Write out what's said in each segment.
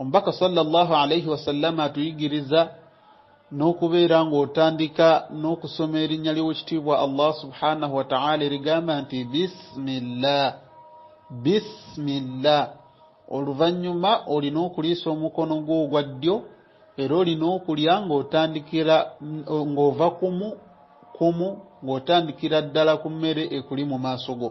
Omubaka sallallahu alaihi wasallama atuyigiriza n'okubeera ng'otandika n'okusoma erinnya ly'owekitiibwa Allah subhanahu wa ta'ala erigamba nti bisimillah bisimillah oluvannyuma olina okuliisa omukono gwo ogwa ddyo era olina okulya ng'otandikira ng'ova kumu kumu ng'otandikira ddala ku mmere ekuli mu maaso go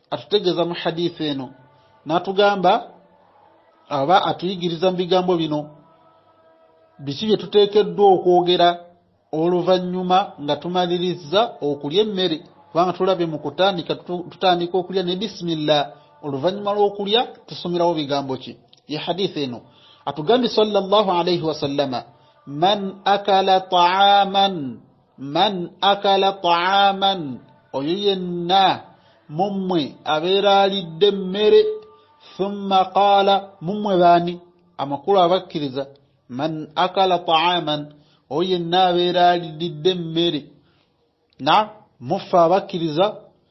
atutegeeza mu haditha eno n'atugamba aba atuyigiriza mu bigambo bino biki bye tuteekeddwa okwogera oluvannyuma nga tumalirizza okulya emmere kubanga tulabe mu kutandika tutandika okulya ne bisimilla oluvannyuma lw'okulya tusomerawo bigambo ki ye haditha eno atugambye salllah alaihi wasallama man akala taaman man akala taaman oyo yenna mummwe abeera alidde emmere thumma qaala mummwe baani amakulu abakkiriza man akala taaman oyo yenna abeera alididde emmere na muffe abakkiriza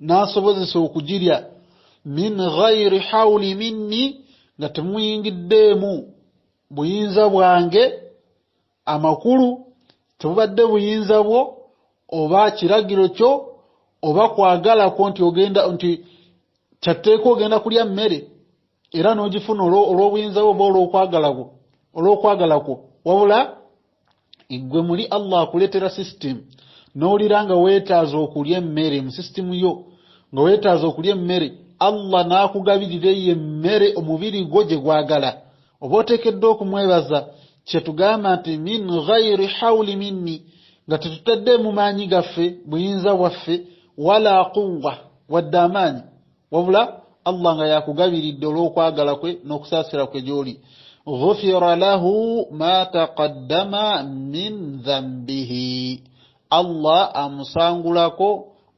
n'asobozesa okugirya min ghairi hawuli minni nga temuyingiddeemu buyinza bwange amakulu tebubadde buyinza bwo oba kiragiro kyo oba kwagala kwo nti ogenda nti kyatteeka ogenda kulya mmere era n'ogifuna olw'obuyinza bwo oba olw'okwagala kwo olw'okwagala kwo wabula eggwe muli allah akuleetera sisitimu n'owulira nga weetaaza okulya emmere mu sisitimu yo nga weetaaza okulya emmere allah n'akugabirira eyo emmere omubiri gwo gye gwagala oba oteekeddwa okumwebaza kye tugamba nti min ghairi hawuli minni nga tetutaddeemu maanyi gaffe buyinza bwaffe wala quwwa wadde amaanyi wabula allah nga yakugabiridde olw'okwagala kwe n'okusaasira kwe gy'oli ghufira lahu ma taqaddama min dhambihi allah amusangulako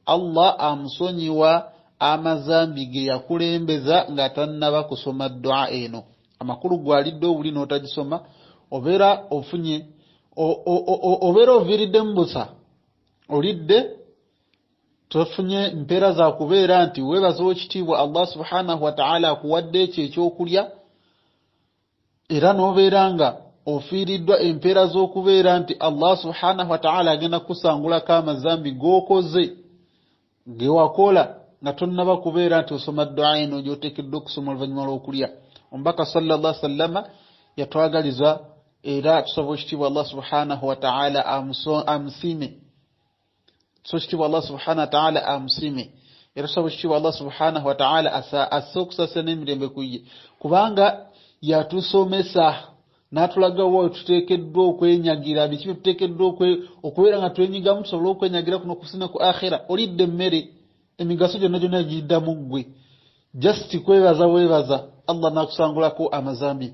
allah amusonyiwa amazambi ge yakulembeza nga tannaba kusoma dua eno amakulu gwalidde obuli n'otagisoma obeera ofunye obeera oviiriddemu busa olidde Tofunye mpeera za kubeera nti weebaza ow'ekitiibwa Allah subhanahu wa ta'ala akuwadde ekyo eky'okulya era n'obeera nga ofiiriddwa empeera z'okubeera nti Allah subhanahu wa ta'ala agenda kukusangulako amazambi g'okoze ge wakola nga tonnaba kubeera nti osoma dduwa eno gy'oteekeddwa okusoma oluvannyuma lw'okulya omubaka sallallah sallama yatwagaliza era tusaba ekitiibwa Allah subhanahu wa ta'ala amusiime so ekitiibwa allah subhanahu wataala amusiime era tusaba ekitiibwa allah subhanahu wataala asse okusasa n'emirembe ku ye kubanga yatusomesa n'atulagawo wetuteekeddwa okwenyagira biki byetuteekeddwa okubeera nga twenyigamu tusobole okwenyagira kuno kusina ku akhira olidde emmere emigaso gyonna gyonna giddamu ggwe just kwebaza webaza allah nakusangulako amazambi